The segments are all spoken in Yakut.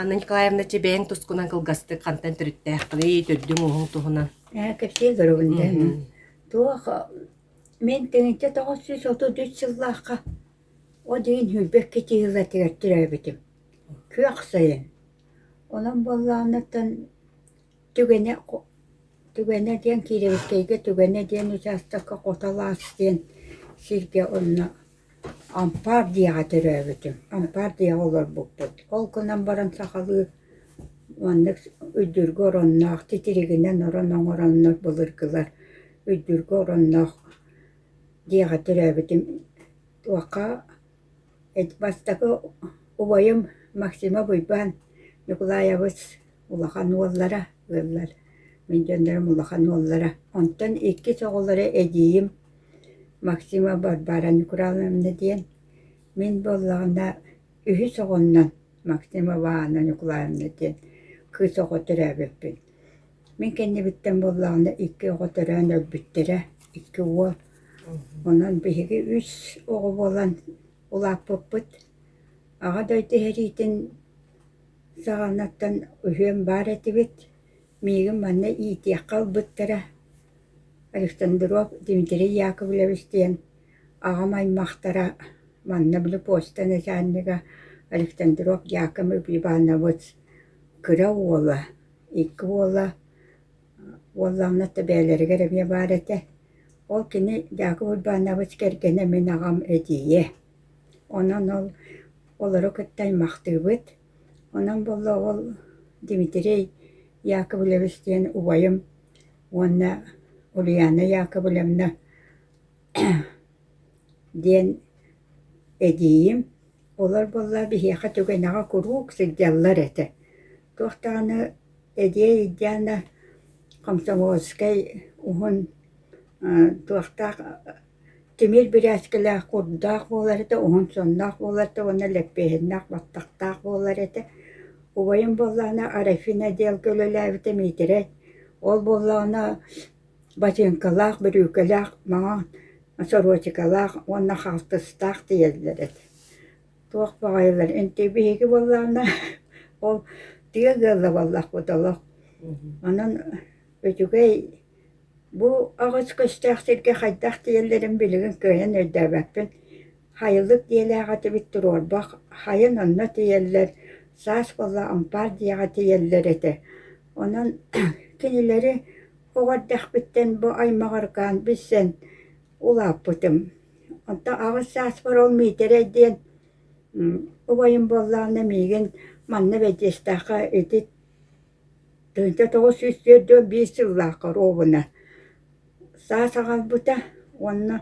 Анна Николаевна, бэйэҥ тускунан кылгастык хантан төрүттээххиний, төрдүҥ-уһуҥ туһунан? Э, Кэпсиэ Грабельден. Туох, мен тыгынча тоҕус сүүс отут үс сыллаахха Ол иһин сүүрбэккэ тиһилэтигэр тирээбитим, күөх сайын. Онон буоллаҕынаттан түгэнэ түгэнэ диэн киирэбиккэйгэ түгэнэ диэн учаастакка хото алаас диэн сиргэ онно ампаар дьиэҕэ төрөөбүтүм, ампаар дьиэҕэ олорбуппут. Ол гынан баран сахалыы маннык үрдүргэ оронноох, титиригинэн орон оҥороннор, былыргылар үрдүргэ оронноох Дьиэҕэ төрөөбүтүм туохха бастакы убайым Максима Буйбаан Ньукулаайабыс улахан уоллара ыаллар. Мин дьоннорум улахан уоллара. Онтон иккис оҕолоро эдьиийим Максима Барбара Ньукулаевна диэн. Мин буоллаҕына үһүс оҕомнон Максима Ивановна Ньукулаевна диэн кыыс оҕо төрөөбүппүн. Мин кэннибиттэн буоллаҕына икки оҕо төрөөн өлбүттэрэ, икки уол. Онон биһиги үс оҕо буолан улааппыппыт. Аҕа дойду иһэриитин саҕанаттан үһүөн баар этибит. Миигин манна иитиэххэ ылбыттара. Александрук Дмитрий Яковлевич диэн аҕам аймахтара манна били почта начальнига Александрук Яковлевич Иванович кыра уола Икки уола уоллаахына да бэйэлэригэр эмиэ баар этэ. Ол кини Дьаакып Уйбаанабыт кэргэнэ мин аҕам эдьиийэ. Онон ол олору кытта аймахтыыбыт. Онон буолла ол Дмитрий Яковлевич диэн убайым уонна Ульяна Яковлевна диэн эдьиийим Олор-буоллар биһиэхэ түгэнэҕэ куруук сылдьаллар этэ, туох даҕаны Эдиэй Ильяна комсомольскай уһун туохтаах тимир бирээскэлээх курдаах буолар этэ, уһун-сонноох буолар этэ уонна лэппиэһиннээх баттахтаах буолар этэ. Убайым буоллаҕына Арафина диэн үлэлээбитэ Миитэрэй, ол буоллаҕына Батыыҥкалаах, бүрүүкэлээх, маҥан, сорочикалаах уонна хаалтыстаах тиийэллэр эти. Туох баҕайылар интик биһиги буоллаҕына ол тыа ыаллабаллахпыт олох. Онон үчүгэй бу аҕыс көстөөх сиргэ хайдах тиийэллэрин билигин кыайан өйдөөбөппүн. Хайылык дьиэлээх этибит туруорбах, хайын онно тиийэллэр, саас буолла ампаар дьиэҕэ тиийэллэр этэ. Онон кинилэри оҕо эрдэхпиттэн бу аймаҕыргаан билсэн улааппытым. Онтон аҕыс сааспар ол Миитэрэй диэн убайым буоллаҕына миигин манна бэдьиэстээххэ ити Тойто тоҕус сүүс түөрт уон биир сыллаахха оруобуна саас аҕалбыта уонна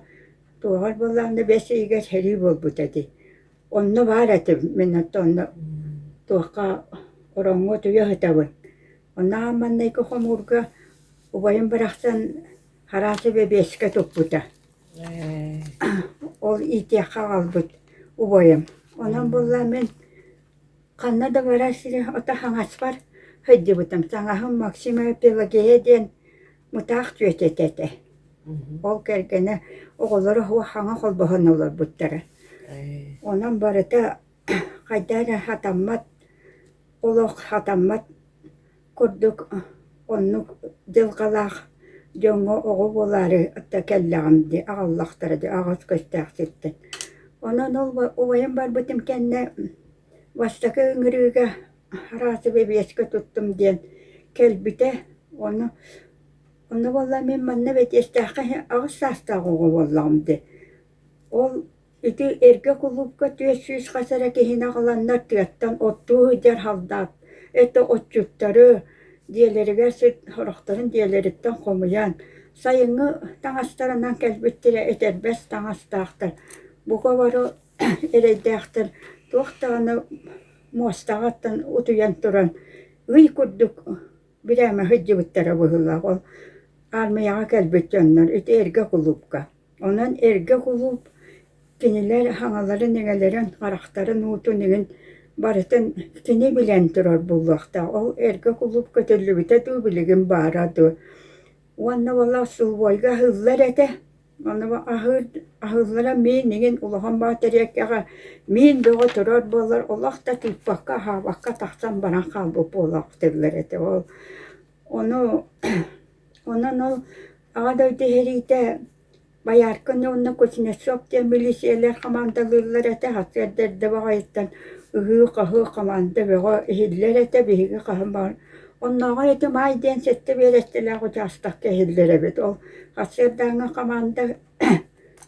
туоһар буоллаҕына бэс ыйыгар сэрии буолбут этэ. Онно баар этим мин оттонно туохха ороҥҥо утуйа сытабын. Оннооҕор маҥнайгы хомуурга убайым барахсан араасы бэбиэскэ туппута. Ол иитиэххэ аҕалбыт убайым. Онон буоллар мин Ханна да барар сири ото хаҥаспар сылдьыбытым. Саҥаһым Максима Пелагея диэн мытаах түөт этэ этэ. Ол кэргэнэ оҕолоро хаҥа холбоһон олорбуттара. Онон барыта хайда эрэ сатаммат, олох сатаммат курдук оннук дьылҕалаах дьоҥҥо оҕо буолаары атта кэллэҕим дии аҕаллахтара дии аҕыс көстөөх сиртэн онон ол убайым барбытым кэннэ бастакы ыҥырыыга араасы бэбиэскэ туттум диэн кэлбитэ ону онно буоллар мин манна бэтиэстээххэ аҕыс саастаах оҕо буоллаҕым дии ол Ити эргэ кулуупка түөрт сүүс хас эрэ киһини аҕаланнар тыаттан оттуу сылдьар халдаат это отчуттары дьиэлэригэр сыт сорохторун дьиэлэриттэн хомуйан сайыҥҥы таҥастарынан кэлбиттэрэ этэрбэс таҥастаахтар бука бары эрэйдээхтэр туох даҕаны муостаҕыттан утуйан туран ый курдук бирээмэ сылдьыбыттара быһыылаах ол аармыйаҕа кэлбит дьоннор ити эргэ кулуупка Онон эргэ кулууп кинилэр хаҥаларын-иҥэлэрин, харахтарын уутун иҥин барытын кини билэн турар буолуохтаах. Ол эргэ кулууп көтүллүбүтэ дуу, билигин баара дуу. Уонна буола усулуобуйга аһыллар этэ. Ону аһыыр аһыллара миин иҥин улахан баатарыайкаҕа миин бөҕө турар буоллар, олох да тыыппакка, аһаабакка тахсан баран хаалбыт буолаахтыыллар этэ ол Ону онон ол Аҕа дойду иһэриитэ Бояркины уонна Кузнецов диэн милииссийэлэр хамаандалыыллар этэ, сэрдэрдэ баҕайыттан ыһыы-хаһыы хамаанда бөҕө иһиллэр этэ, биһиги хаһан баҕар оннооҕор ити Маай диэн сэттэ биэрэстэлээх учаастакка иһиллэр эбит. Ол сарсыардааҥҥы хамаанда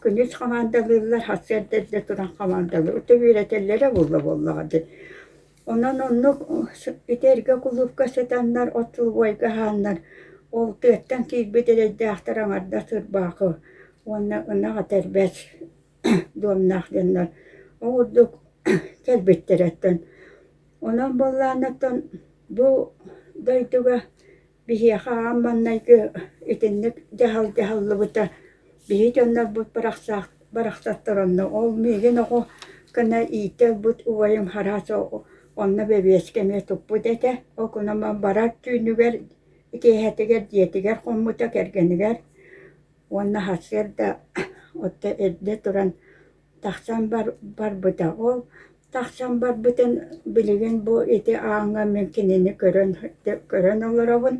күнүс хамаандалыыллар, сарсыарда эрдэ туран хамаандалыыр. Ити биэрэтэллэрэ буолла буоллаҕа дии. Онон оннук ити эргэ кулуупка сытаннар от убайга аһааннар, ол тыаттан киирбит эрэйдээхтэр аҥарда сырбаахы уонна ынах этэрбэс дуомнаах дьоннор ол курдук кэлбиттэр оттон онон буоллаҕына оттон бу дойдуга Биһиэхэ аан маҥнайгы итинник дьаһал дьаһаллыбыта биһи дьоннорбут барахсаах барахсаттар онно ол миигин оҕо гына иитэ ылбыт убайым араас онно бэбиэскэ эмиэ туппут этэ ол гынан барар түүнүгэр киэһэтигэр дьиэтигэр хоммута кэргэнигэр уонна сарсыарда отто эрдэ туран Тахсан бар барбыта. Ол тахсан барбытын билигин бу ити ааҥҥа мин кинини көрөн көрөн олоробун.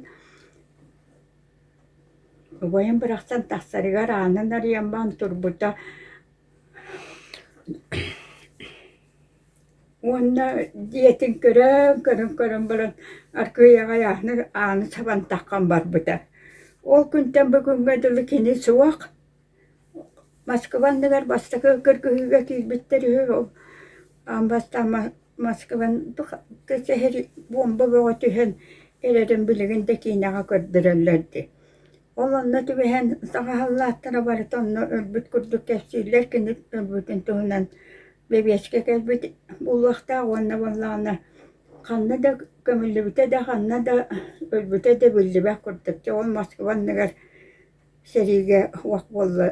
Убайым бырахсан тахсарыгар аанын арыйан баран турбута уонна дьиэтин көрөн көрөн көрөн баран аргыый аҕай ааны ааны сабан таххан барбыта. Ол күнтэн бүгүҥҥэ дылы кини суох. Москуба анныгар бастакы кыргыһыыга киирбиттэр үһү ол аан бастаан Москван сэһэр буомба бөҕө түһэн эрэрин билигин да киинэҕэ көрдөрөллөр дии. Ол онно түбэһэн саҕаһаллааттара барыта онно өлбүт курдук кэпсииллэр кини өлбүтүн туһунан бэбиэчкэ кэлбит буолуохтаах уонна буоллаҕына ханна да көмүллүбүтэ да ханна да өлбүтэ да биллибэт курдук. Дьэ ол Москуба анныгар сэриигэ вак буолла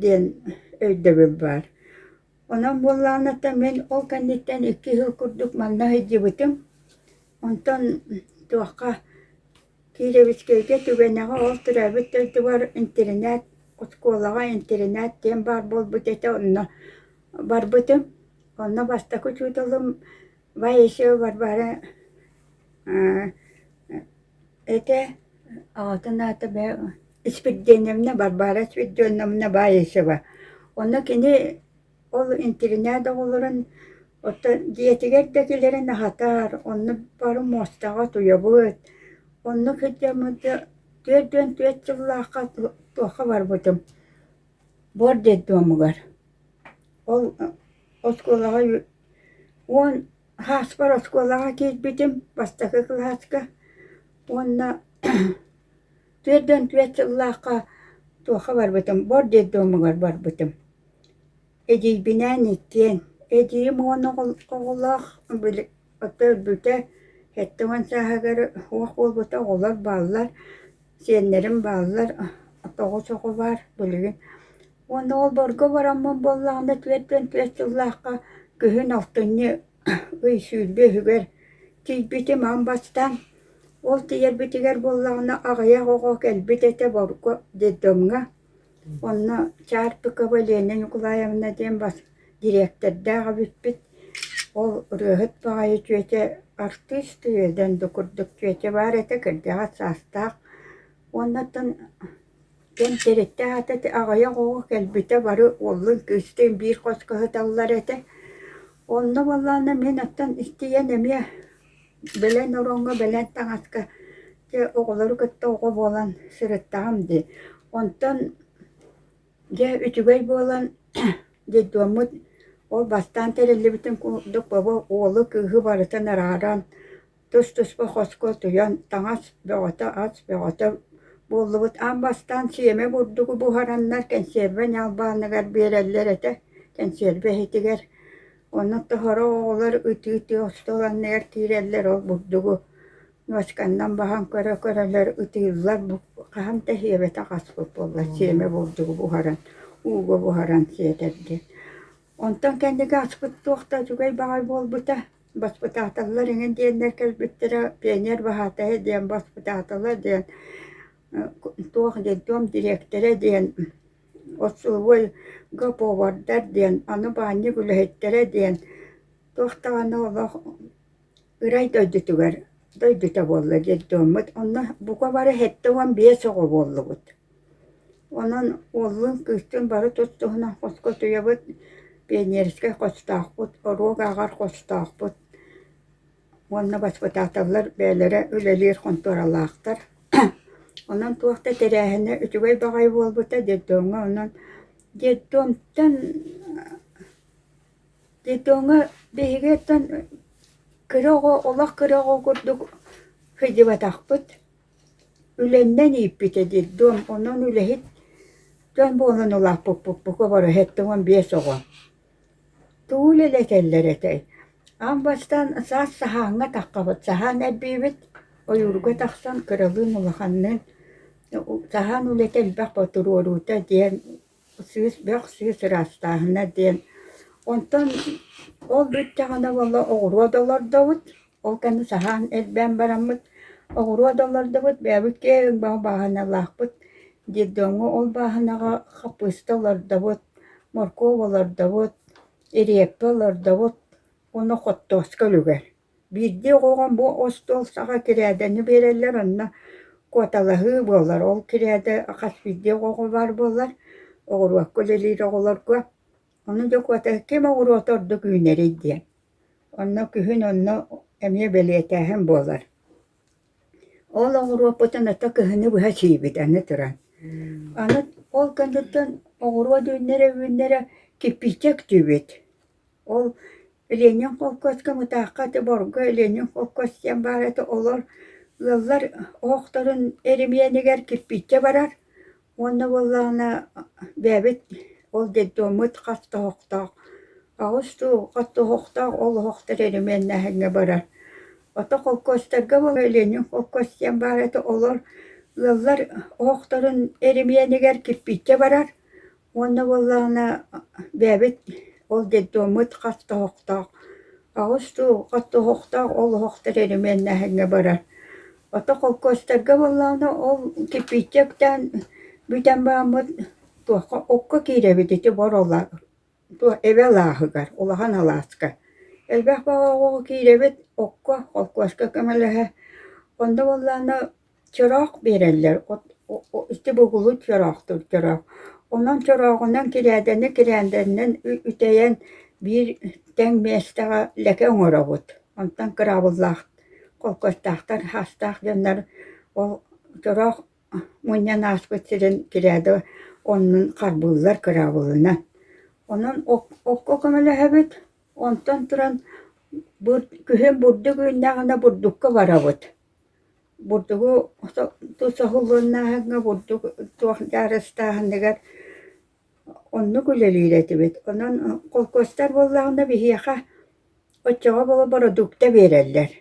диэн өйдөбүл баар. Онон буоллаҕына мин ол кэнниттэн икки сыл курдук манна сылдьыбытым. Онтон туохха Кировецкайга түгэннэҕэ ол төрөөбүт дойдубар интэринээт, оскуолаҕа интэринээт диэн баар буолбут этэ онно барбытым. Онно бастакы учууталым Бай исиэ барбары ите аҕатын аата бээ Спирдианевна Барбара Спирдионовна Баисова. Онно кини ол интиринээт оҕолорун оттон дьиэтигэр да кэлэрин аһатар, онно бары муостаҕа туйабыт. Онно кырдьаммыт да түөрт уон түөрт сыллаахха туохха барбытым. буор детдомугар ол оскуолаҕа уон хааспар оскуолаҕа киирбитим бастакы кылааска уонна түөртэн түөрт сыллаахха туохха барбытым буор детдомугар барбытым эдьиийбинээн иккиэн эдьиийим уон оҕолоох өлбүтэ сэттэ уон сааһыгар суох буолбута оҕолор бааллар Сиэннэрим бааллар, тоҕус оҕо баар билигин. Уонна олборго бараммын буоллаҕына түөртүөн түөрт сыллаахха күһүн алтынньы ый сүүрбэ үһүгэр тиийбитим ам бастаан. Ол тиийэрбитигэр буоллаҕына аҕыйах оҕо кэлбит этэ, деддомҥа. Онно Чаарпыкова Леня Ньукулаевна диэн бас дириэктэрдээх эбиппит. Ол ырыаһыт баҕайы чүөчэ артыыс тыа диэн да курдук чүөчэ баар этэ, кырдьаҕас саастаах. Уоннаттан кэнтэриэктээх этэ, аҕыйах оҕо кэлбитэ бары уоллун кыыстыын биир хоско сыталлар этэ. Онно буоллаҕына мин оттон истийэн эмиэ Бэлэн ороҥҥо, бэлээн таҥаска дьэ оҕолору кытта оҕо буолан сырыттаҕым дии. Онтон дьэ үчүгэй буолан детдоммут ол бастаан тэриллибитин курдук бобо уолу кыыһы барытын арааран тус-туспа хоско утуйан таҥас бөҕөтө ас бөҕөтө буоллубут аан бастаан сиэмэ бурдугу буһараннар кэнсиэрбэ ньалбааныгар биэрэллэр этэ кэнсиэрбэ иһитигэр Онно тоһоро оҕолор ытыы-ытыы остуоланныгар киирэллэр, ол бурдугу ночканнан баһан көрө-көрөлөр ытыыллар, хаһан да иһиэбэтэх аспыт буоллар сиэмэ бурдугу буһаран, ууга буһаран сиэтэргэ. Онтон кэнниги аспыт туох да үчүгэй баҕай буолбута, баспытааталлар иҥин диэннэр кэлбиттэрэ пионер баһаатайа диэн, баспытаатала диэн, туох диэн, туом дириэктэрэ диэн Отцуобуйга повардар диэн аны баанньык үлэһиттэрэ диэн туох даҕаны олох ырай дойдутугар дойдута буолла детдоммут онно бука бары сэттэ уон биэс оҕо буоллубут онон уоллун кыыстын бары тус туһунан хоско туйабыт пионерскай хостоохпут оруог ааҕар хостоохпут уонна воспитателлар бэйэлэрэ үлэлиир хонтуоралаахтар. Онон туох да тэрээһинэ үчүгэй баҕайы буолбута детдомҥа онон детдомтан детдомҥа биһиги оттон кыра оҕо олох кыра оҕо курдук сылдьыбатахпыт. Үлэннэн ииппитэ детдом онон үлэһит дьон буолан улааппыппыт бука бары сэттэ уон биэс оҕо. Тугу үлэлэ кэллэр этэй, аан бастаан саас саһааҥҥа таххабыт, саһаан эрбиибит, ойуурга тахсан кыралыын улаханныын саһаан үлэтэ элбэх ботуруоруута диэн, сыыс бөх, сыыс ыраастааһына диэн, онтон ол бүттэҕинэ буолла оҕуруот олордобут Ол кэннэ саһаан элбээн бараммыт, оҕуруот да олордубут, бэйэбит киһи ымбаҕы бааһыналаахпыт, детдомҥа ол бааһынаҕа хаппыыста олордобут, моркуоп олордобут, ириэппэ олордобут уонна хоттооска үлүгэр. Биирдии оҕоҕо бу остуол саҕа кирээдэни биэрэллэр, онно куоталаһыы буолар. Ол кирээдэ хас биирдии оҕоҕо баар буолар, оҕуруокка үлэлиир оҕолорго Ону Дьокуота ким оҕуруота ордук үүнэрий диэн. Онно күһүн онно эмиэ бэлиэтээһин буолар. Ол оҕуруоппутун ата кыһыны быһа чийбит аны туран. Аны ол кэнниттэн оҕуруот үүннэрэ-үүннэрэ кирпииччэ актыыбыт. Ол Ленин холкуоска, Мытаахха ити Борго Ленин холкуос диэн баар этэ. Олор ыаллар оһохторун эримиэнигэр кирпииччэ барар. Уонна буоллаҕына бэйэбит ол детдоммут хаттоһохтоох аҕыс дуу хаттоһохтоох олоһохтор эримиэннээһиҥҥэ барар. Ото холкуостарга буоллар Ленин холкуос диэн баар этэ олор ыаллар оһохторун эримиэнигэр кирпииччэ барар уонна буоллаҕына бэйэбит ол детдоммут хаттоһохтоох аҕыс дуу хаттоһохтоох олоһохтор эримиэннээһиҥҥэ барар. Ото холкуостарга буоллаҕына ол кирпииччэ үктээн бүтэн бааммыт туохха окко киирэбит ити Борола эбэ алааһыгар улахан алааска. Элбэх бөҕө оҕоҕо киирэбит окко холкуоска көмөлөһө. Онно буоллаҕына чороох биэрэллэр ити бугулу чороохтуур чороох. Онон чорооҕунан кирээдэни кирээндэнинэн үтэйэн биир тэҥ миэстэҕэ лекэ оҥоробут. Онтон кыраабыллаах Холкуостаахтар саастаах дьоннор ол чороох мунньан ааспыт сирин тирээдэ оннун харбыыллар кыраабылынан. Онон окко көмөлөһөбүт, онтон туран күһүн бурдук үүннэҕинэ бурдукка барабыт. Бурдугу тус соһуллуннааһыҥҥа бурдук туох дьаарыстааһыныгар Оннук үлэлиир этибит. Онон холкуостар буоллаҕына биһиэхэ оччоҕо бородуукта биэрэллэр.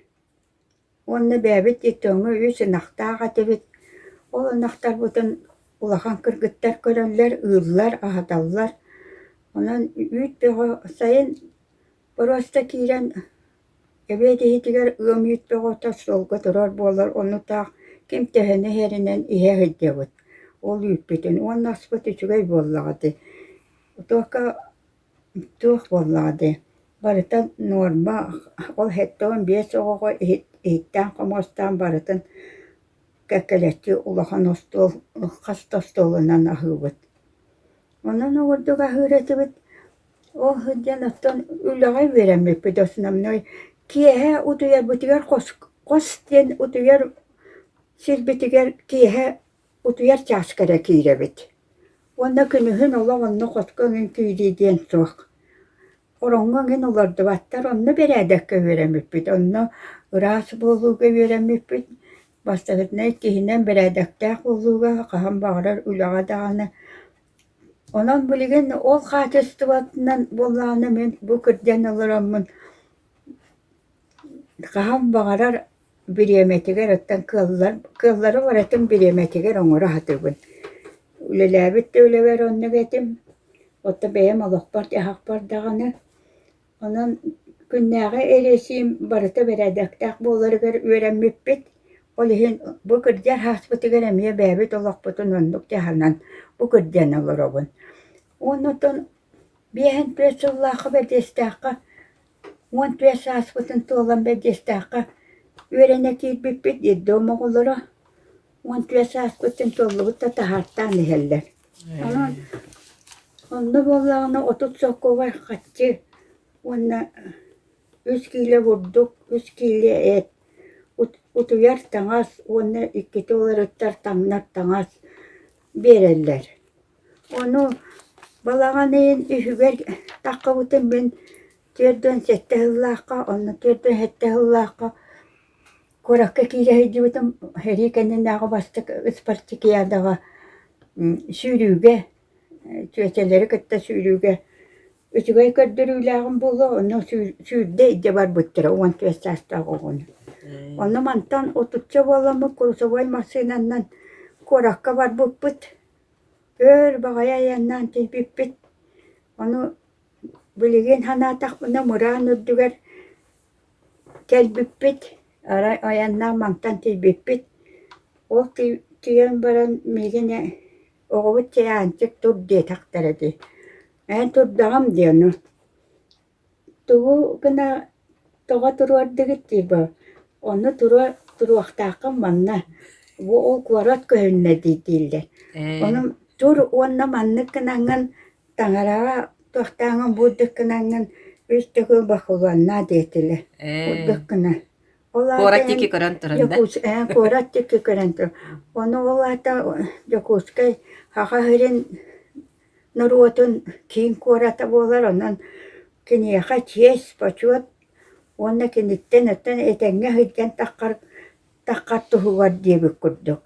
Уонна бэйэбит итоҥҥа үс ынахтаах этибит. Ол ынахтарбытын улахан кыргыттар көрөллөр, ыыллар, аһаталлар. Онон үүт бөҕө сайын просто киирэн Эбиэт иһитигэр ыам үүттэҕэ сылга турар буолар оннутаах ким төһөнү иһэринэн иһэ сылдьабыт, ол үүппүтүн уонна аспыт үчүгэй буоллаҕа дии, туохха туох буоллаҕа дии, барыта нуорма, ол сэттэ уон биэс оҕоҕо иһиттэн хомуостаан барытын кэккэлэччи улахан остуол, хас да остуолунан аһыыбыт. Онон ордук аһыыр этибит Ол сылдьан оттон үлэҕэ үөрэммиппит основной киэһэ утуйарбытыгар хос хос диэн утуйар сирбитигэр киэһэ утуйар чааска эрэ киирэбит. Уонна күнүһүн олох онно хотко эҥин киирии диэн суох. Ороҥҥо эҥин олордубаттар онно бэрээдэккэ үөрэммиппит. Онно ыраас буолууга үөрэммиппит. Бастакытынай киһинэн бэрээдэктээх буолууга хаһан баҕарар үлэҕэ даҕаны Онон билигин ол хаачыстыбатынан буоллаҕына мин бу кырдьан олороммун хаһан баҕарар бириэмэтигэр оттон кыаллар кыаллары барытын бириэмэтигэр оҥоро сатыыбын. Үлэлээбит да үлэбэр оннук этим. Оттон бэйэм олохпор-дьаһахпар даҕаны Онон күннээҕи эриэсиим барыта бэрээдэктээх буоларыгар үөрэммиппит. Ол иһин бу кырдьар һааспытыгар эмиэ бэйэбит олохпутун оннук дьаһанан бу кырдьан олоробун. Оннуттан биэһин түөрт сыллаахха бэрдиэстээххэ уон түөрт сааспытын туолан бэрдиэстээххэ үөрэнэ киирбиппит, детдом оҕолоро уон тыа сааска өттүн туоллубут да таһаартаан иһэллэр. Онон онно буоллаҕына отут сокуоба хаччы уонна үс киилэ бурдук, үс киилэ эт, утуйар таҥас уонна иккити уларыттар таҥнар таҥас биэрэллэр. Ону балаҕан ыйын үһүгэр таххабытын мин түөрт уон сэттэ сыллаахха, онно түөрт уон сэттэ сыллаахха Куоракка киирэ сылдьыбытым, сэрии кэннинээҕи бастакы Спартакиадаҕа сүүрүүгэ, чүөчэлэри кытта сүүрүүгэ үчүгэй көрдөрүүлээҕим буолуо, онно сүүрдэ илдьэ барбыттара уон түөрт саастаах оҕону. Ону мантан отучча буоламмыт курусовой массыынанан куоракка барбыппыт, өр баҕайы айаннаан тиийбиппит. Ону билигин санаатахпына мыраан үрдүгэр Кэлбиппит, арай айаннаах мантан тиийбиппит, ол тиийэн баран миигин оҕобут чайаанчык тур диэтэхтэрэ дии, эн турдаҕым дии ону, тугу гына тоҕо туруордугут дии бо, ону туруо туруохтааххын манна, бу ол куорат көһүннэ дии дииллэр, онон тур уонна маннык гынаҥҥын Таҥараҕа туохтааҕын булдуккунаннан үс төгүл бакулуоннаа диэтилэр. Булдуккуна. Ол аата Куорат диэки көрөн туран да? Дьокуускай, куорат диэки көрөн туран. Ону ол аата Дьокуускай Аҕа сирин норуотун киин куората буолар. Онон киниэхэ чиэс, почет уонна киниттэн оттон этэҥҥэ сылдьан таххар Таххат туһугар диэбит курдук.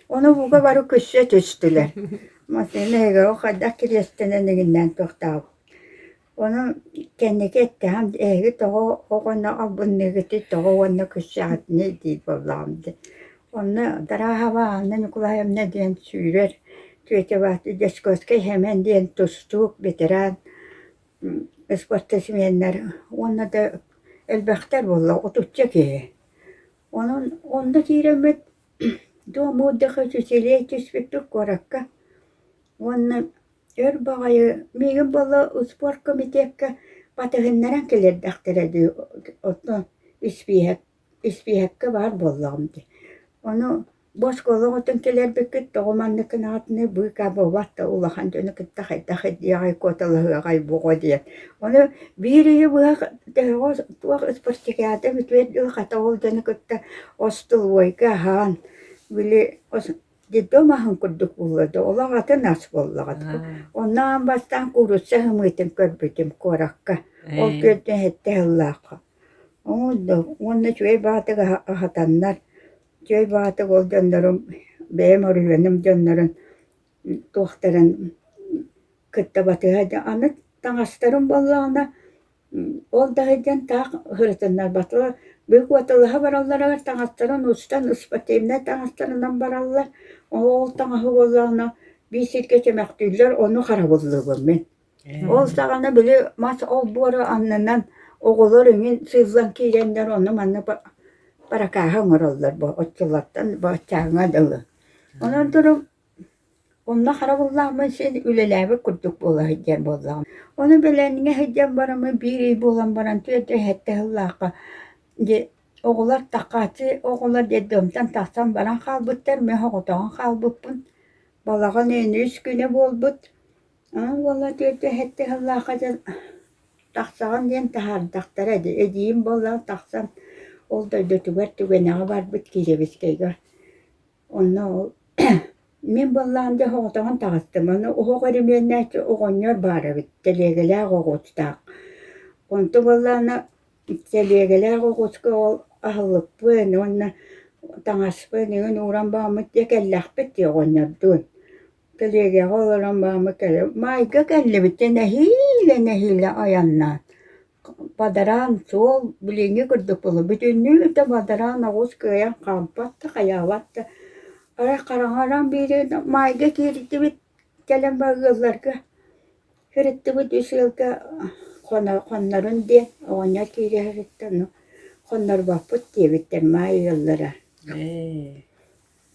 Ону ууга бары күссэ түстүлэр. Массыына эһиги хайдах кириэстэнэн игиннээн туохтаах Ону кэнники эттэхэм, эһиги тоҕо оҕону албынныыгытый, тоҕо уонна күссэҕитиний дии буоллаҕым дии. Онно Дарааһаба Анна Ньукулаевна диэн сүүрэр Тетя Дьячковскай Хэмэн диэн тустуук, ветеран, спортсменнар уонна да элбэхтэр буолла, отучча киһи. Онон онно киирэммит дуоммут да сочиделие түспүппүт куоракка уонна өр баҕайы миигин буолла успуорт комитекка батыһыннаран кэлэрдэхтэрэ дии оттон испииһэк испииһэккэ баар буоллаҕым дии ону Бу оскуола оҕотун кэлэрбиккит тоҕо маннык гынаҕытынай быыкаа буолбат да улахан дьону кытта хайдах диэҕэй куоталаһыаҕай буҕо диэн. Ону биир ыйы быһа төһөҕө туох спартакиада бүтүөр дуу хата ол дьону кытта остолобуойга аһаан били ос детдом аһын курдук буолла да олох атын ас буоллаҕа. Онно бастаан куурусса сымыытын көрбүтүм куоракка. Ол күөртэн сэттэ сыллаахха. Ол да уонна үчүгэй баатык аһатаннар Дьиэ убаһатык ол дьоннорум, бэйэм орүһүөнүм дьоннорун туохтарын кытта батыһа да аны таҥастарым буоллаҕына ол да сылдьан таах сырытыннарбатылар, быык уоталаһа баралларыгар таҥастарын устан спортивнай таҥастарынан бараллар, ол таҥаһы буоллаҕына биир сиргэ чөмөхтүүллэр, ону харабыллыыбын мин. Ол саҕана били мас олбуора аннынан оҕолор иҥин сыыллан киирэннэр ону манна паракааһы оҥороллор бу оччолортон баччааҥҥа дылы. Онон туран онно харабыллаахмын син үлэлээбит курдук буола сылдьар буоллаҕым. Ону бэлэмҥэ сылдьан бараммын биир ый буолан баран түөртэ сэттэ сыллаахха дьэ оҕолор Такааччы оҕолор детдомтон тахсан баран хаалбыттар, мен соҕотоҕун хаалбыппын. Балаҕан үөн үс күнэ буолбут. Аны уола түөртэ сэттэ сыллаахха дьон тахсаҕын диэн таһаардахтара дии, эдьиийим буоллаҕа тахсан ол дойдутугар түгэнэҕэ барбыт Кириэбискэйгэ. Онно ол мин буоллаҕым дьэ соҕотоҕун таҕыстым. Ону оһох өрөмүөннээччи оҕонньор баар эбит, тэлиэгэлээх оҕуустаах. Онто буоллаҕына тэлиэгэлээх оҕуска ол аһылыкпыын уонна таҥаспыын иҥин ууран бооммут диэ кэллэхпит дии оҕонньордуун. Тэлиэгэҕэ олорон баама кэлэ Маайга кэллибитэ нэһиилэ-нэһиилэ айаннаан бадараан суол билиҥҥи курдук буолла бүтүннүү да бадараан оҕус кыайан хаалбат да хайаабат да арай хараҥаран биэрии да Маайга киириттибит кэлэн барыылларга сырыттыбыт үс ыалга хоно хоннорун диэн оҕонньор киирэ сырытта ну хоннорбоппут диэбиттэр Маай ыаллара ээ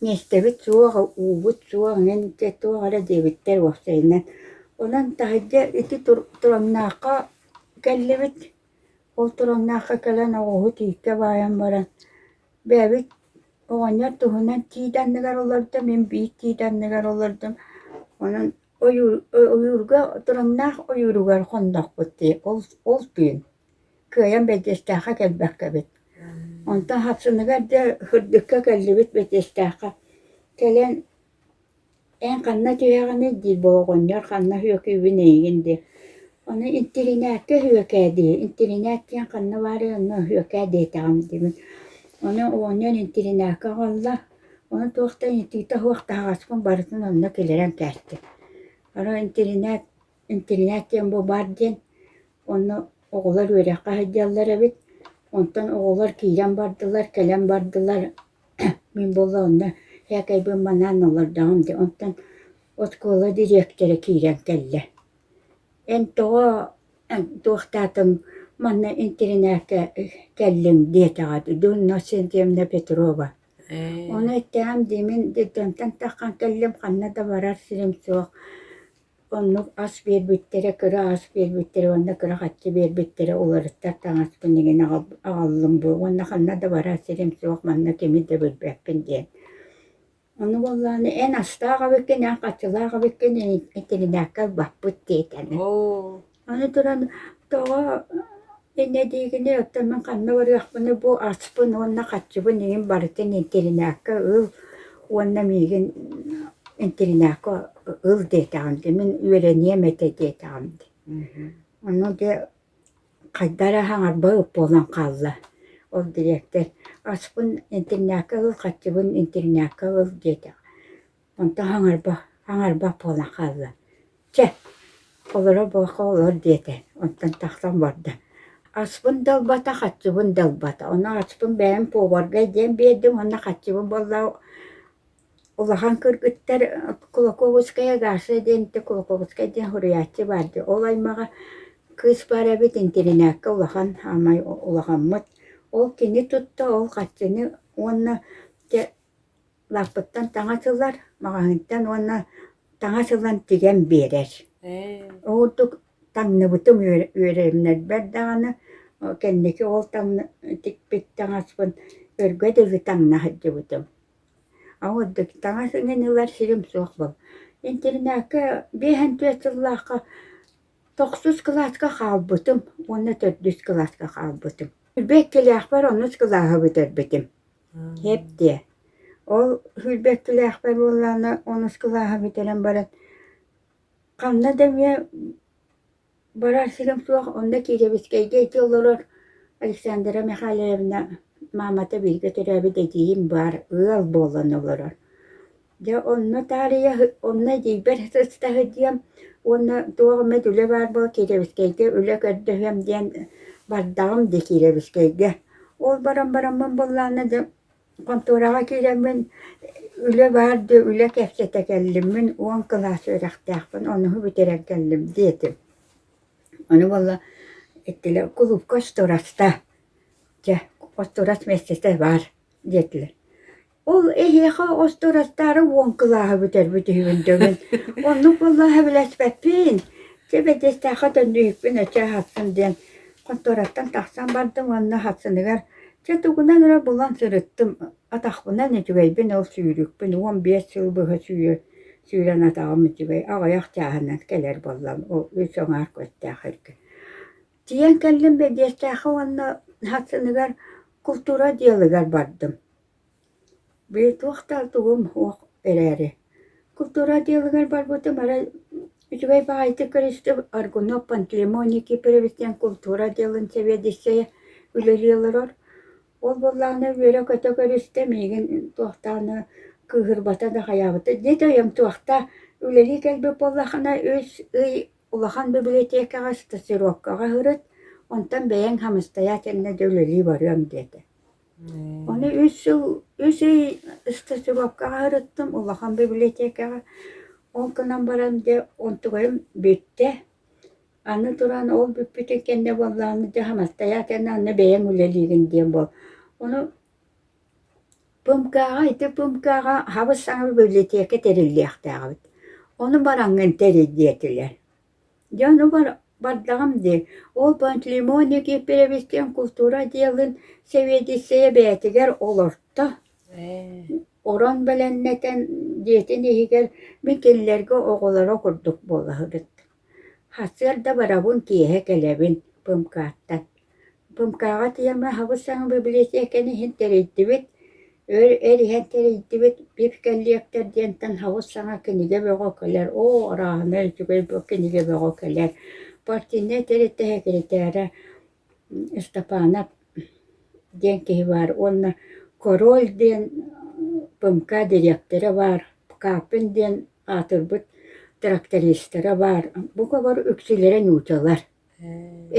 миэстэбит суох, уубут суох, мин дьэ туох эрэ диэбиттэр уопсайынан. Онон таһырдьа ити Тураннаахха кэллибит. Ол Тураннаахха кэлэн оҕуһут ииккэ баайан баран, бэйэбит оҕонньор туһунан тиит анныгар олордум, мин биир тиит анныгар олордум. Онон ойуурга тураҥнаах ойууругар хоннохпут ол түүн кыайан бэдьиэстээххэ кэлбэккэ эбит онтон хапсыныгар дьэ сырдыкка кэллибит бэдьиэстээххэ кэлэн эн ханна түһэҕиний диир боҕоҕонньор ханна үөкүүбүн эйигин диир ону интиринээккэ үөкээ дии интиринээк диэн ханна баарый онно үөкээ диэтэҕим диибин ону оҕонньор интиринээккэ аҕалла Ону туох да ыйытыыта суох таһаҕаспын барытын онно киллэрэн кээстим. Арай интэринээт интэринээт диэн бу баар диэн онно оҕолор үөрэххэ сылдьаллар эбит, онтон оҕолор киирэн бардылар, кэлэн бардылар мин буолла онно эһэкэйбин манаан олордоҕум дии онтон оскуола дириэктэрэ киирэн кэллэ. Эн тоҕо Туохтаатым манна интэринээккэ кэллим диэтэҕэ дии дуу Иннокентьевна Петрова ону эттэҕим дии мин детдомтон таххан кэллим ханна да барар сирим суох оннук ас биэрбиттэрэ кыра ас биэрбиттэрэ уонна кыра харчы биэрбиттэрэ уларыттар таҥас минигин аҕаллым буо уонна ханна да барар сирим суох манна кими да билбэппин диэн Ону буоллаҕына эн астаах абыккын, эн хаччылаах абыккын интэринээккэ ылбаппыт диэтэнэ. Оо. Аны туран тоҕо инньэ диигиний оттон мин ханна барыахпыный бу аспын уонна хаччыбын иҥин барытын интэринээккэ ыл уонна миигин интэринээккэ ыл диэтэҕим дии, мин үөрэниэм этэ диэтэҕим дии. Ону дии Хайда эрэ хаҥарбыт буолан хаалла. Ол дириэктэр «Ачпын интэрнээккэ ыл, хаччыбын интэрнээккэ ыл» диэтэ. Онтон хаҥарба хаҥарбат буолан хаалла. «Чэ, олоро буолуохха олор» диэтэ. Онтон тахсан барда. «Ачпын да ылбата, хаччыбын да ылбата. Ону ачпын бэйэм поваргай диэн биэрдим уонна хаччыбын буоллаҕа Улахан кыргыттар Кулаковская Гаша диэн ити Кулаковскай диэн суруйааччы баар дии, ол аймаҕа кыыс баар эбит интэринээккэ улахан аамай улахаммыт. Ол кини тутта, ол харчыны уонна дьэ лааппыттан таҥас ылар, маҕаһыынтан уонна таҥас ылан тигэн биэрэр. Ол курдук таҥныбытым үөрэ үөрэммэрбэр даҕаны кэнники ол таҥны тикпит таҥаспын өргө дылы таҥна сылдьыбытым. А вот дык таҥас иҥин ылар сирим суох буол. Интирнээккэ биэһэн түөрт сыллаахха тохсус кылааска хаалбытым уонна төрдүс кылааска хаалбытым. Hülbekкилээхпэр оннук кылааһы бүтэрбитим. Хэптиэ. Ол hülbekkилээхпэр буоллаҕына онус кылааһы бүтэрэн баран ханна да эмиэ Барар сирим суох, онно Кириэбискэйгэ ити олорор Александра Михайловна маамата биһиги төрөөбүт эдьиийим баар ыал буолан олорор. Дьэ онно таарыйа- онно эдьиийбэр сыстаһыт диэм уонна туох эмит үлэ баар буол Кириэбискэйгэ үлэ көрдөһүөм диэн бардаҕым дии Кириэбискэйгэ. Ол баран бараммын буоллаҕына дьэ Хонтуораҕа киирэммин үлэ баар диэ үлэ кэккэтэ кэллиммин уон кылаас үөрэхтээхпин онуһу бүтэрэн кэллим диэтим. Аны буолла эттилэр кулуупка остуораста дьэ остуорас миэстэтэ баар диэтилэр. Ол эһиэхэ остуорастаары уон кылааһы бүтэрбит үһүбүн дө мин оннук буоллаһа билэспэппин дьэ бэдиэстээххэ төннүһүппүн өссө аһаттым диэн хонтуораттан тахсан бардым уонна хатсыныгар Чэ тугунан эрэ булан сырыттым, атахпынан үчүгэйбин ол сүүрүкпүн уон биэс сыл быһа сүүрэ сүүрэн атаҕым үчүгэй аҕыйах чааһынан кэлэр буоллам ол үс аҥаарка өстөөх эргэ. Тиийэн кэллим бэдиэстээххэ уонна сыныгар култуура отделыгар бардым. Били туохтаах тугум уох эрээри, култуура отделыгар барбытым арай үчүгэй баҕайытык көрүстүм Аргунов Пантелеймон Никифорович диэн култуура отделын сэбиэдиссэйэ үлэлии олорор. Ол буоллаҕына үөрэ-көтө көрүстэ миигин туохтааны кыыһырбата да хайаабыта дьэ да өйөм туохтаа үлэлии кэлбит буоллаххына үс ый улахан бибилэтиэкэҕэ стажировкаҕа ыһырыт, онтон бэйэҥ хамыстайа итиэннэ да үлэлии барыаҥ диэтэ. Ону үс сыл, үс ый стажировкаҕа сырыттым, улахан библиотекаҕа. Ол гынан баран дьэ онтубайым бүттэ. Аны туран ол бүппүтүн кэннэ буоллаҕына дьэ хамастаьаатына онно бэйэм үлэлиирин диэн буол. Ону ПМКА-ҕа ити ПМКА-ҕа хабыс саҥа библиотека тэриллиэхтээх эбит. Ону бараҥҥын тэрий диэтилэр. Дьэ ону бардаҕым дии, ол Пантелеймон Никифоровичтыын култуура отделын сэбиэдиссэйэ бэйэтигэр олорто. Орон бэлэмнэтэн дьиэтин иһигэр мин кинилэргэ оҕолоро курдук буолаһыбыт. Сарсыарда барабын киэһэ кэлэбин пымкааттан Думкаҕа тема Хабыс-саҥа библиотеканы иһин тэрийдибит, өр эр иһэн тэрийдибит «Пив коллектор» диэнтэн хабыс-саҥа кинигэ бөҕө кэлэр. Оо, арааһынай үчүгэй бу кинигэ бөҕө кэлэр. Партийнай тэрилтэ сэкирэтээрэ Ыстапаанап диэн киһи баар уонна «Король» диэн ПМК дириэктэрэ баар, «Пкапин» диэн аатырбыт трактористара баар. Бука бары үксүлэрэ нуучалар.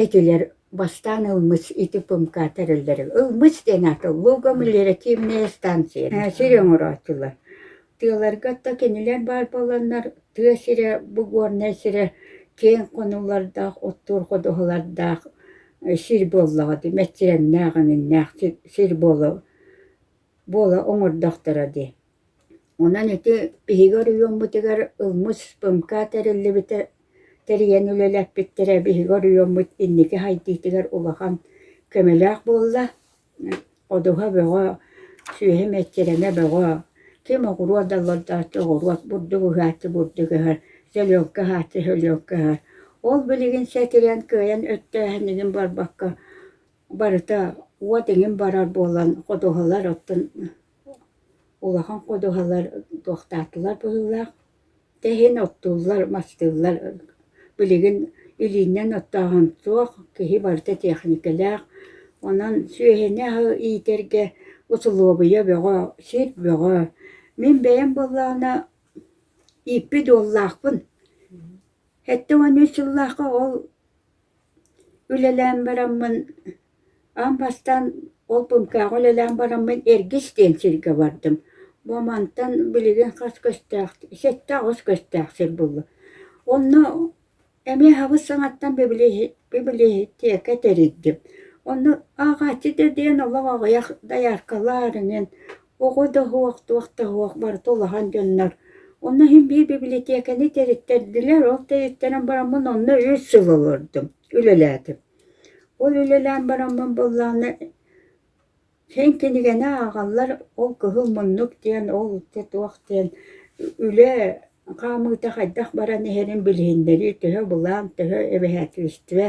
Этилэр бастаан ылмыт ити пымка тэриллэрэ. Ылмыт диэн аата Лугомлера тиэмнэйэ станция. Сир оҥороотулар. Тыаларга ата кинилэр баар буоланнар тыа сирэ, бу горнай сирэ киэҥ хонуулардаах, оттуур ходуһалардаах сир буоллаҕа дии, мэччирэҥнээх, эҥиннээх сир буола буола оҥордохторо дии. Онон ити биһиги оройуоммутугар ылмыт спымка тэриллибитэ тэрийэн үлэлэппиттэрэ биһиги оройуоммут инники хайдыытыгар улахан көмөлөөх буолла. Ходуһа бөҕө, сүөһү мэччирэнэ бөҕө, ким оҕуруот да олордооччу оҕуруот бурдук ыһааччы бурдук ыһар, селёнка ыһааччы селёнка ыһар. Ол билигин сэтирэн кыайан өттөөһүнүгүн барбакка Барыта уот эҥин барар буолан ходуһалар оттон улахан ходуһалар туохтаатылар быһыылаах. Дьэ иһин оттууллар, мастыыллар. Билигин илииннэн оттооһун суох, киһи барыта тиэхиникэлээх. Онон сүөһүнү аһы иитэргэ усулуобуйа бөҕө, сир бөҕө. Мин бэйэм буоллаҕына ииппит уоллаахпын. Сэттэ уон үс сыллаахха ол Үлэлээн бараммын, аан бастаан ол пумкаҕа үлэлээн бараммын Эргис диэн сиргэ бардым. Бу мантан билигин хас көстөөх, сэттэ аҕыс көстөөх сир булла. Онно эмиэ хабыс саҥаттан библиотека тэрийдим. Онно ааҕааччы да диэн олох аҕыйах дояркалар, арыгы Оҕо да оһуох, туох да оһуох барыта улахан дьоннор. Онно иһин биир бибилэтиэкэни тэриттэрдилэр, ол тэриттэрэн бараммын онно үс сыл олордум, үлэлээтим. Ол үлэлээн бараммын буоллаҕына син кинигэни ааҕаллар, ол кыһыл муннук диэн, ол туох диэн үлэ хаамыыта хайдах баран иһэрин билиһиннэрии, төһө былаан, төһө эбэһээтилистибэ,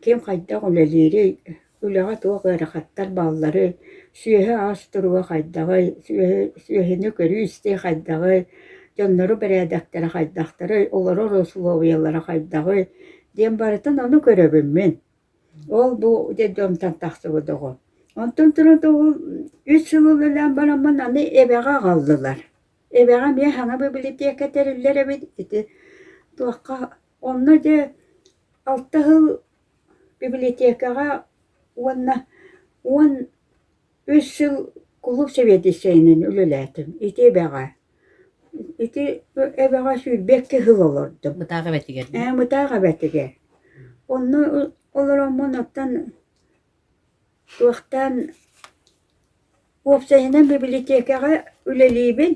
ким хайдах үлэлиирий Үлэҕэ туох ыарахаттар баалларый, сүөһү-ас туруга хайдаҕый, сүөһү сүөһүнү көрүү-истии хайдаҕый, дьоннору бэрээдэктэрэ хайдахтарый, олорор усулуобуйалара хайдаҕый, диэн барытын ону көрөбүн мин. Ол-бу детдомтон тахсыбыт оҕо. Онтон туран ол үс сыл үлэлээн бараммын аны эбэҕэ аҕаллылар. Эбэҕэ эмиэ саҥа бибилэтиэкэ тэриллэр эбит, ити туохха Онно дьэ алта сыл библиотекаҕа уонна уон үс сыл кулууп сэбиэдиссэйинэн үлэлээтим. Ити эбэҕэ ити эбэҕэ сүүрбэккэ сыл олордум. Мытаах эбэтигэр. Ээ, Мытаах эбэтигэр. Онно олороммун оттон Туохтаан уопсайынан бибилитиэкэҕэ үлэлиибин,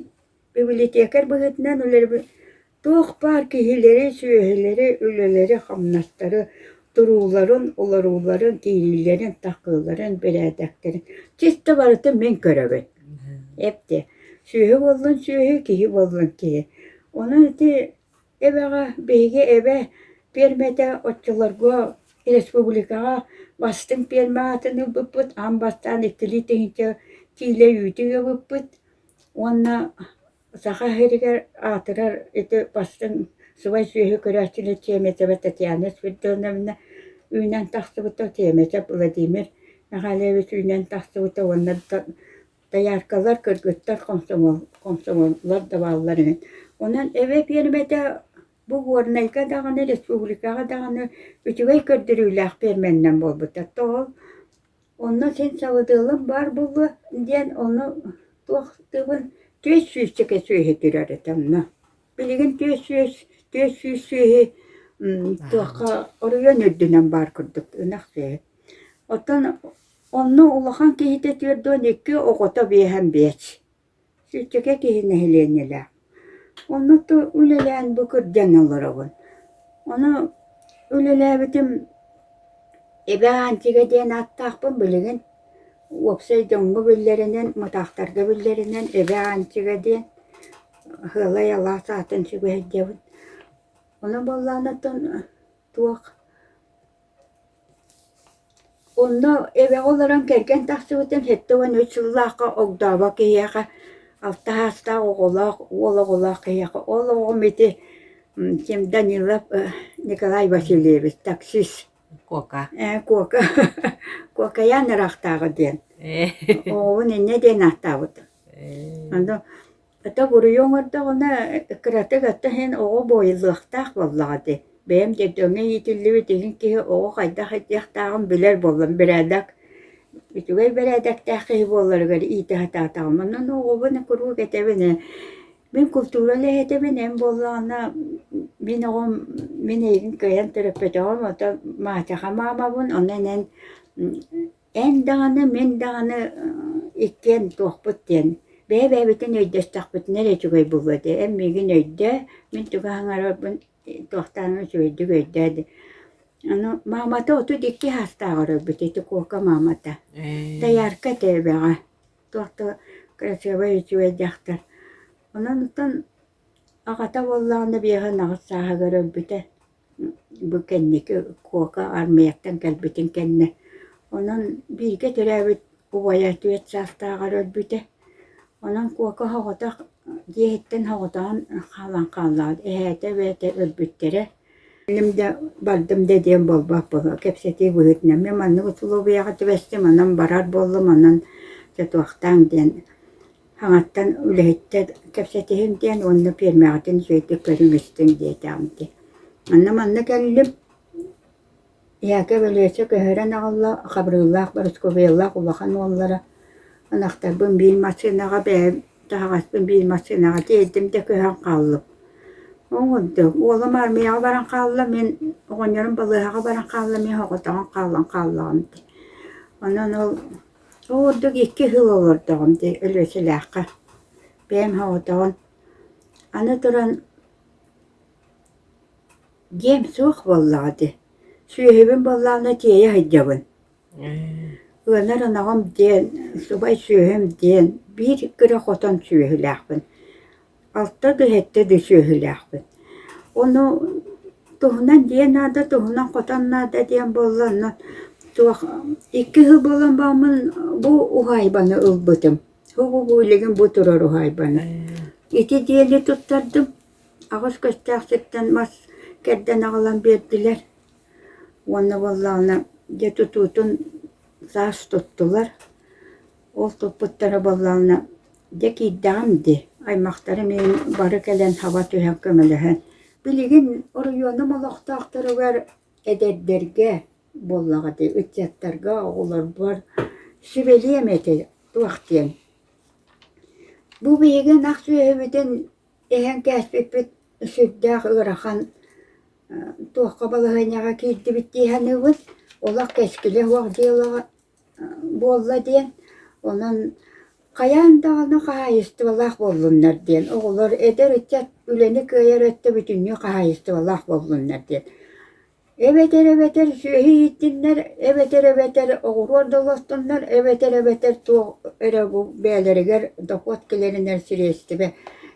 бибилитиэкэр быһыытынан үлэбин. Туох баар киһилэри, сүөһүлэри, үлэлэри-хамнастары, турууларын, олорууларын, киириилэрин, тахсыыларын, бэрээдэктэрин чисто барытын мин көрөбүн. Эптиэ. Сүөһү буоллун сүөһү, киһи буоллун киһи. Онон ити Эбэҕэ биһиги эбэ пиэрмэтэ оччолорго республикаҕа бастыҥ пиэрмэ аатын ылбыппыт, аан бастаан иккилии тыһыынча киилэ үүтү ыабыппыт уонна Саха сиригэр аатырар ити бастыҥ сыбай сүөһү көрөөччүнү тиэмэтэбэ Татьяна Спиридоновна үүнэн тахсыбыта, тиэмэтэ Владимир Михайлович үүнэн тахсыбыта уонна дояркалар, кыргыттар комсомоллар да бааллар үһү. Онон эбэ пиэрмэтэ бу Горнайга даҕаны, республикаҕа даҕаны үчүгэй көрдөрүүлээх пиэрмэнинэн буолбута. Тоҕо онно син сабыдыалым баар буолуо диэн ону туох тылын түөс сүүсчэкэ сүөһү түрэр этэ онно. Билигин түөс сүүс түөс сүүс сүөһү туохха оройуон үрдүнэн баар курдук ынах сүөһү. Оттон Онно улахан киһитэ түөрт уон икки, оҕото биэһэн биэч. Сүччүкэ киһи нэһилиэнньэлээх. Онноту үлэлээн бу кырдьан олоробун. Ону үлэлээбитим Эбэ Аанчыга диэн ааттаахпын билигин. Уопсай дьоҥҥо биллэринэн, мытаахтарга биллэринэн Эбэ Аанчыга диэн Ыһыалай алаас аатын сүгэһэрдэбин. Ону буоллаан оттон туох Онно эбэҕэ олорон кэргэн тахсыбытым сэттэ уон үс сыллаахха огдообо киһиэхэ алта саастаах оҕолоох уол оҕолоох киһиэхэ ол оҕом ити ким Данилов Николай Васильевич таксист Куока ээ Куока Куокайаан ыраахтааҕы диэн оҕобун инньэ диэн ааттаабыт Ата буруйу оҥордоҕуна кыратык ата иһин оҕо буойуллуохтаах буоллаҕа дии. Бэйэм детдомҥа иитиллибит иһин киһи оҕо хайдах этиэхтээҕин билэр буоллам. Бэрээдэк, үчүгэй бэрээдэктээх киһи буолларыгар иитэ сатаатаҕым. Онон оҕобун куруук этэбин ээ, мин култуура үлэһитэбин эн буоллаҕына мин оҕом мин эйигин кыайан төрөппөтөҕүм, ата маачаха маамабын, онон эн Эн даҕаны, мин даҕаны иккиэн туохпут диэн бэйэ-бэйэбитин өйдөстөхпүтүнэ эрэ үчүгэй буолуо дии. Эн миигин өйдөө, мин чугас аҥарбын туохтааҕын үчүгэйдик өйдөө дии. Аны маамата отут икки саастаах оройбут ити Куока маамата. Доярка тэбэҕэ. Туох да красивай, үчүгэй дьахтар. Онон Аҕата буоллаҕына биэһэ анаҕыс сааһыгар өлбүтэ, бу кэнники Куока армияттан кэлбитин кэннэ. Онон бииргэ төрөөбүт убайа түөрт саастааҕар өлбүтэ. Онон Куока соҕотох дьиэһиттэн соҕотоҕун хаалан хааллаҕыт, эһээтэ эбээтэ өлбүттэрэ. Инним да бардым да диэн буолбаппын, кэпсэтии быһыытынан. Мин маннык усулуобуйаҕа түбэстим, онон барар буоллум, онон сотуохтааҥ диэн Аҥаттан үлэһиттэр кэпсэтиһим диэн уонна пиэрмэҕитин үчүгэйдик көрүҥүстүҥ диэтэҕим дии. Манна-манна кэллим. Яков Ильича көһөрөн аҕалла, Хабырыыллаах Борускубеллаах улахан уоллара. Ынахтарбын биир массыынаҕа бэйэм таһаҕаспын биир массыынаҕа тиэрдим да көһөн хааллым. Ол курдук уолум армияҕа баран хаалла, мин оҕонньорум балыыһаҕа баран хаалла, мин соҕотоҕун хаалан хааллаҕым дии. Онон ол Ол курдук икки сыл олордоҕум дии Өлүөчэлээххэ. Бэйэм соҕотоҕун. Аны туран дьиэм суох буоллаҕа дии. Сүөһүбүн буоллаҕына тиэйэ сылдьабын. Ылынар ынаҕым диэн, субай сүөһүм диэн биир кыра хотон сүөһүлээхпин. Алта дыһэттэ да сүөһүлээхпит. Ону туһунан дии наада, туһунан хотон наада диэн буолла, онно туох икки сыл буолан бааммын бу уһаайбаны ылбытым. Һугугуулигин бу турар уһаайбаны. Ити диэни туттардым. Аҕыс көстөөхсүттэн мас кэрдэн аҕалан биэрдилэр. Уонна буоллаҕына дьэ тутуутун саас туттулар. Ол туппуттара буоллаҕына, дьэ киирдэҕим дии, аймахтарым иһин бары кэлэн хаба түһэн көмөлөһөн. Билигин оройуонум олохтоохторугар эдэрдэргэ буоллаҕа дии, ыччаттарга, оҕолорбор сүбэлиэм ити туох диэн. Бу биһиги ынах сүөһүбүтүн иһэн кээспиппит сүрдээх ыарахан туохха балаһыанньаҕа киирдибит дии саныыбын. Олох кэскилэ суох дьыалаҕа Буолла диэн, онон хайаан даҕаны хаһаайыстыбалаах буоллуннар диэн, оҕолор, эдэр ыччат үлэни кыайар өттө бүтүннүү хаһаайыстыбалаах буоллуннар диэн. Эбэтэр эбэтэр сүөһү ииттиннэр, эбэтэр эбэтэр оҕуруот да олостоннор, эбэтэр эбэтэр туох эрэ бу бэйэлэригэр дохуот киллэринэр сириэстибэ,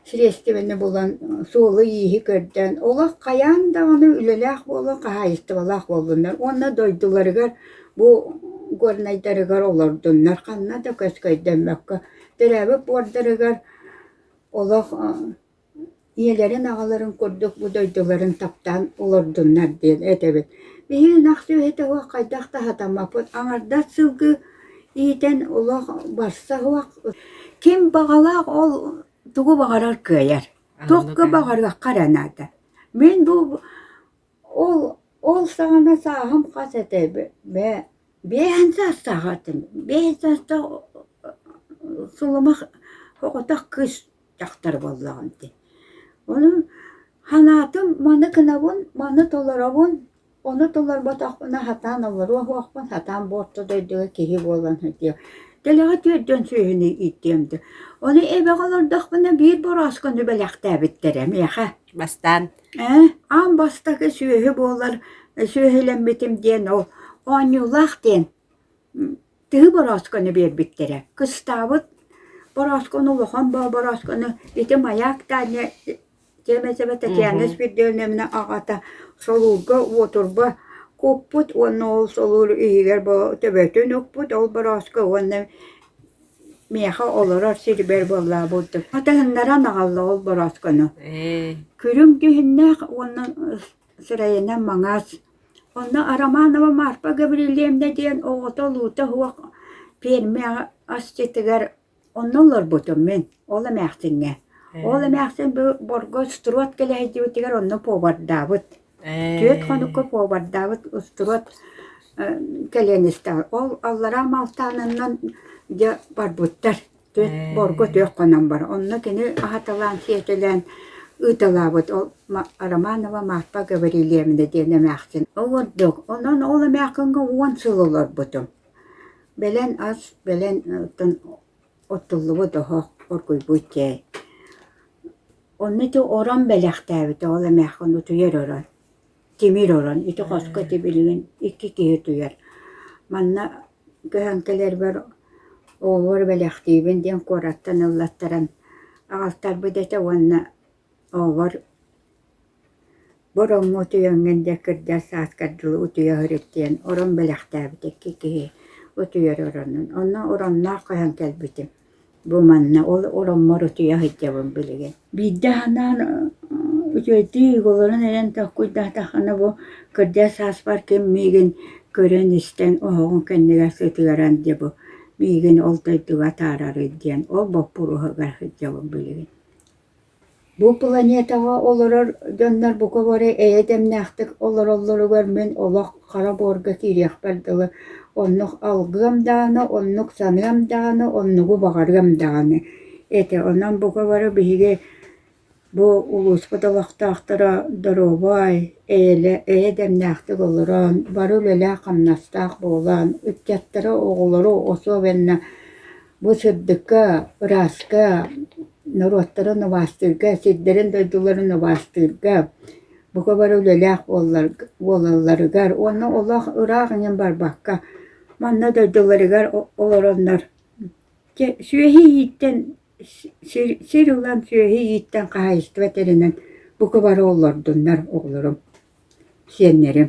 сириэстибэни булан суолу-ииһи көрдөөн, олох хайаан даҕаны үлэлээх буола хаһаайыстыбалаах буоллуннар уонна дойдуларыгар Бу горнайдарыгар олордуннар, ханна да көскөйдөммөккө, төрөөбүт буордарыгар олох ийэлэрин-аҕаларын курдук бу дойдуларын таптаан олордуннар диэн этэбин. Биһиги ынах сүөһүтэ уһук хайдах да сатаммаппыт. Аҥардас сылгы иитэн олох барса уһук. Ким баҕалаах ол тугу баҕарар кыайар. Туохка баҕарыахха эрэ наада. Мин бу Ол ол саҕана сааһым хас этэ бэ биэһэн саастаах этим биэһэн саастаах сулумах оҕотох кыыс дьахтар буоллаҕым ити ону санаатым маны гынабын маны толоробун ону толорботохпуна сатаан олоруо суохпун сатаан бу орто дойдуга киһи буолан сытыам дэлэҕэ түөрдүөн сүөһүнү ииттиэм дуо ону эбэҕэ олордохпуна биир борооскону бэлэхтээбиттэрэ миэхэ бастаан Ээ, аан бастакы сүөһү буолар сүөһүлэммитим диэн ол оонньуулаах диэн тыһы борооскону биэрбиттэрэ. Кыстаабыт борооскону, улахан борооскону ити Маяк Таня тиэмэтэ Татьяна Спиридоновна аҕата солуурга уотурба куппут уонна ол солуур иһигэр бу төбөтүн укпут ол борооско уонна миэхэ олорор сирибэр буоллаабыт батыһыннаран аҕалла ол борооскону Ээ, күрүҥ дьүһүннээх уонна сирэйинэ маҥаас онно Романова Марфа Гаврильевна диэн оҕото луута суох пиэрмэ асчытыгар онно олорбутум мин ол эмээхсиҥҥэ ол эмээхсин бу Борго Строд кэлэһэйдибитигэр онно повардаабыт Түөрт хонукка повардаабыт устубат кэлиэнистээх. Ол аллараа Маалтаанынан дьэ барбыттар. Түөрт буорга түөрт хонон бар. Онно кини аһаталаан, сиэтэлээн ыыталаабыт. Ол Романова Марфа Гаврильевна диэн эмээхсин олордук. Онон ол эмээхиҥҥэ уон сыл олорбутум. Бэлэн ас, бэлэн оттуллубут оһох, оргуйбут чэй. Онно ити орон бэлэхтээбитэ, ол эмээххин утуйар орон. Тимир орон. Ити хоско ити билигин икки киһи утуйар. Манна көһөн кэлэрбэр оҕобор бэлэхтиибин диэн куораттан ыллаттаран аҕалтарбыт этэ уонна Оҕобор бороҥҥу утуйаҥҥын диэн кырдьар сааскар дылы утуйа сырыттыйан орон бэлэхтээбит икки киһи утуйар оронун. Онно оронноох көһөн кэлбитим. Бу манна ол ороҥмор утуйа сылдьабын билигин. Биирдэ санаан үчүгэйдик игалларын эрэн токкуйдатаххына бу кырдьар сааспар ким миигин көрөн-истэн оһоҕун кэннигэр сытыаран дии бу миигин ол дойдуга атаарарый диэн ол боппуруоһугар сылдьабын билигин. Бу планетаҕа олорор дьоннор бука бары эйэ дэмнээхтик олороллоругар мин олох хара буорга киириэхпэр дылы оннук алгыам даҕаны, оннук саныам даҕаны, оннугу баҕарыам даҕаны этэ. Онон бука бары биһиги бу улууспут олохтоохторо доруобай, эйэлэ эйэ дэмнээхтик олорон, бары үлэлээх-хамнастаах буолан, ыччаттары, оҕолору, особенно Бу сырдыкка, ырааска, норуоттары нуубаастыырга, сирдэрин-дойдуларын нуубаастыырга, бука бары үлэлээх буолалларыгар уонна олох ыраах эҥин барбакка манна дойдуларыгар олороннор сүөһү ииттэн сир ылан сүөһү ииттэн хаһаайыстыба тэринэн бука бары олордуннар оҕолорум, сиэннэрим